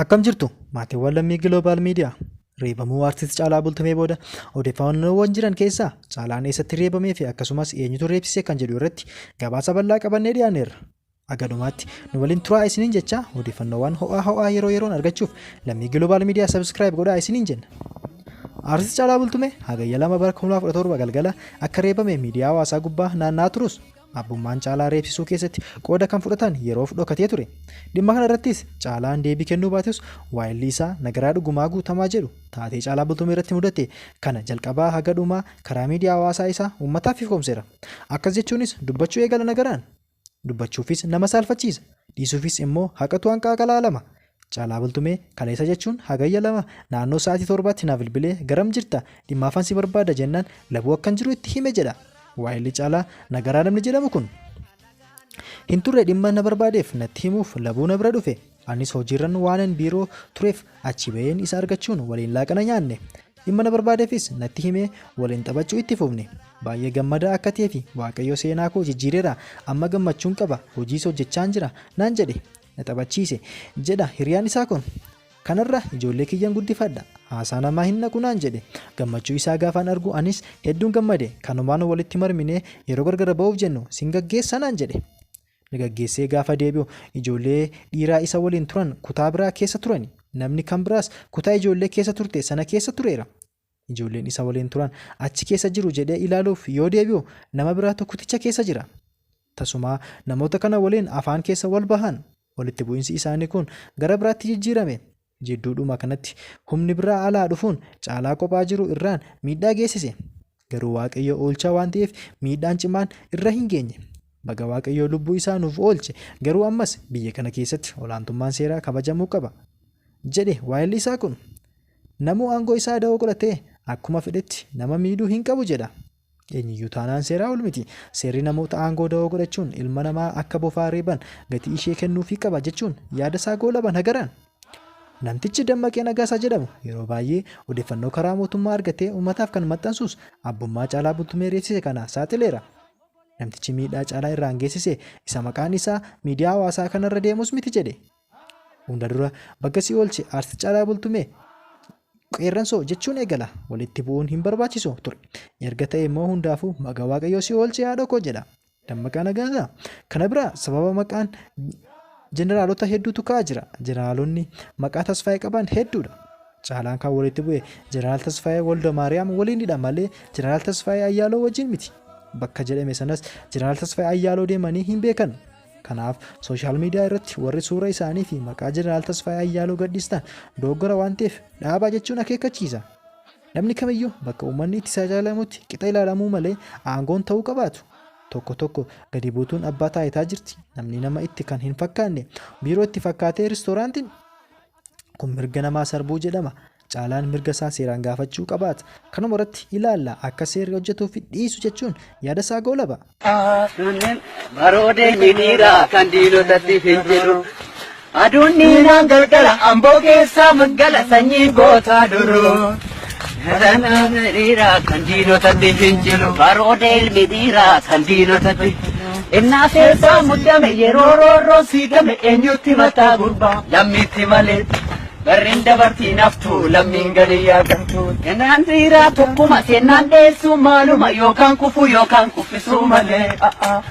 Akkam jirtu maatiiwwan lammii Global Media reebamuu artist Caalaa Bultumee booda odeeffannoowwan jiran keessaa Caalaan eessatti reebamee fi akkasumas eenyutu reebsise kan jedhu irratti gabaasa bal'aa qabannee dhiyaanneerra. Agadumaatti nu waliin turaa isiniin jechaa odeeffannoowwan ho'aa ho'aa yeroo yeroon argachuuf lammii Global Media subscribe godhaa isiniin jenna. Artist Caalaa Bultumee hagayya lama bara 2017 galgala akka reebame miidiyaa hawaasaa gubbaa naanna'aa turus Abbummaan Caalaa reebsisuu keessatti qooda kan fudhatan yeroof dhokatee ture. Dhimma kana irrattis Caalaan deebii kennuu baatus waayilli isaa Nagaraa Dhugumaa Guutamaa jedhu taatee Caalaa Bultumee irratti mudate kana jalqabaa haga dhumaa karaa miidiyaa hawaasaa isaa uummataaf ifoomseera. Akkas jechuunis dubbachuu eegala Nagaraan. Dubbachuufis nama saalfachiisa. Dhiisuufis immoo haqatu hanqaaqa laalama. Caalaa Bultumee, Kaleessa jechuun Hagayya 2 naannoo sa'aatii 7tti na bilbilee garam jirta, dhimmaafan si barbaada jennaan Labuu akkan jiru itti hime jedha waahilli Caalaa Nagaraa namni jedhamu kun. Hin turre dhimma na barbaadeef natti himuuf Labuu na bira dhufe. Anis hojiirran waanan biiroo tureef achii ba'een isa argachuun waliin laaqana nyaanne. Dhimma na barbaadeefis natti himee waliin taphachuu itti fufne. Baay'ee gammadaa akka ta'eefi Waaqayyo seenaa koo jijjiireera amma gammachuun qaba hojiis hojjechaan jira naan jedhe. na taphachiise, jedha hiriyaan isaa kun. Kanarra ijoollee kiyyan guddifadha. Haasaa namaa hin dhaqu naan jedhe. Gammachuu isaa gaafaan argu anis hedduun gammade. Kanumaan walitti marminee yeroo gargar ba'uuf jennu sin gaggeessa naan jedhe. Na gaggeessee gaafa deebi'u ijoollee dhiiraa isa waliin turan kutaa biraa keessa turani. Namni kan biraas kutaa ijoollee keessa turte sana keessa tureera. ijoolleen isa waliin turan achi keessa jiru jedhee ilaaluuf yoo deebi'u nama biraatu kuticha keessa jira. Tasumaa namoota kana waliin afaan keessa wal bahan. Walitti bu'insi isaanii kun gara biraatti jijjiirame. Jidduudhuma kanatti humni biraa alaa dhufuun caalaa kophaa jiru irraan miidhaa geessise. Garuu Waaqayyo oolchaa waan ta'eef miidhaan cimaan irra hin geenye. Baga Waaqayyo lubbuu isaa nuuf oolche, garuu ammas biyya kana keessatti olaantummaan seeraa kabajamuu qaba. jedhe waayilli isaa kun. Namuu aangoo isaa dahoo godhatee akkuma fedhetti nama miidhuu hin qabu jedha. Eenyuyyuu taanaan seeraa ol miti. Seerri namoota aangoo dahoo godhachuun ilma namaa akka bofaa reeban gatii ishee kennuufii qaba jechuun yaada isaa goolaban hagaran. Namtichi Dammaqee Nagaasaa jedhamu yeroo baay'ee odeeffannoo karaa mootummaa argatee uummataaf kan maxxansuus abbummaa Caalaa Bultumee reebsise kana saaxileera. Namtichi miidhaa Caalaa irraan geessise isa maqaan isaa miidiyaa hawaasaa kanarra deemus miti jedhe. Hunda dura baga si oolche Artist Caalaa Bultumee! Qeerransoo jechuun eegala. Walitti bu'uun hin barbaachisu ture. Erga ta'e immoo hundaafuu baga Waaqayyoo si oolche haadhoo koo jedha. Dammaqaa Nagaasaa! Kana bira sababa maqaan jeneraalota hedduutu ka'aa jira. Jeneraalonni maqaa Tasfaayee qaban hedduudha. Caalaan kan walitti bu'e jeneraal Tasfaayee Waldamaariyaam waliinidha malee jeneraal Tasfaayee Ayyaaloo wajjin miti. Bakka jedhame sanas jeneraal Tasfaayee Ayyaaloo deemanii hin beekan. Kanaaf sooshaal miidiyaa irratti warri suura isaanii fi maqaa Jeneraal Tasfaayee Ayyaaloo gadhiistan dogoggora waan ta'eef dhaabaa jechuun akeekkachiisa. Namni kamiyyuu bakka uummanni itti saaxilamutti qixa ilaalamuu malee aangoon ta'uu qabaatu. Tokko tokko gadi buutuun abbaa taayitaa jirti. Namni nama itti kan hin fakkaanne biiroo itti fakkaatee riistooraantiin Kun mirga namaa sarbuu jedhama. Caalaan mirga isaa seeraan gaafachuu qabaata. Kanuma irratti ilaalla akka seerri hojjetuu fi dhiisu jechuun yaada isaa goolaba. Sunneen baroodee hiriira kan diinotatti fincilu. Aduun dhiiraan galgala amboo keessaa maggala sanyii gootaa duruu. Galanaan dhiiraa kan diinotatti fincilu baroota ilmi dhiiraa kan diinotatti innaa seesaa muddame yeroo roorroo siigame eenyutti mataa gurbaa lammiitti malee barreen dabartii naftuu lammiin gadi yaadantu innaan dhiiraa tokkuma seennaan dheessuu maaluma yookaan kufuu yookaan kuffisuu malee.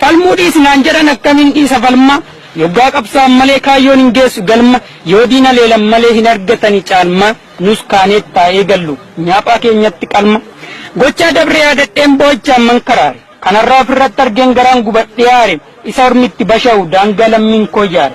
Falmuu dhiisi naan jedhan akkamiin dhiisa falma Yoggaa qabsaa'an malee kaayyoon hin geessu galma Yoo diina leelan malee hin argatani caalmaa Nus kaaneet haa eegallu nyaaphaa keenyatti qalma Gochaa dabre yaadadheen boo'ichaan man karaare Kan har'aa ofirratti argeen garaan gubadhee aare Isa ormi itti basha'u daangaa lammiin koo ijaare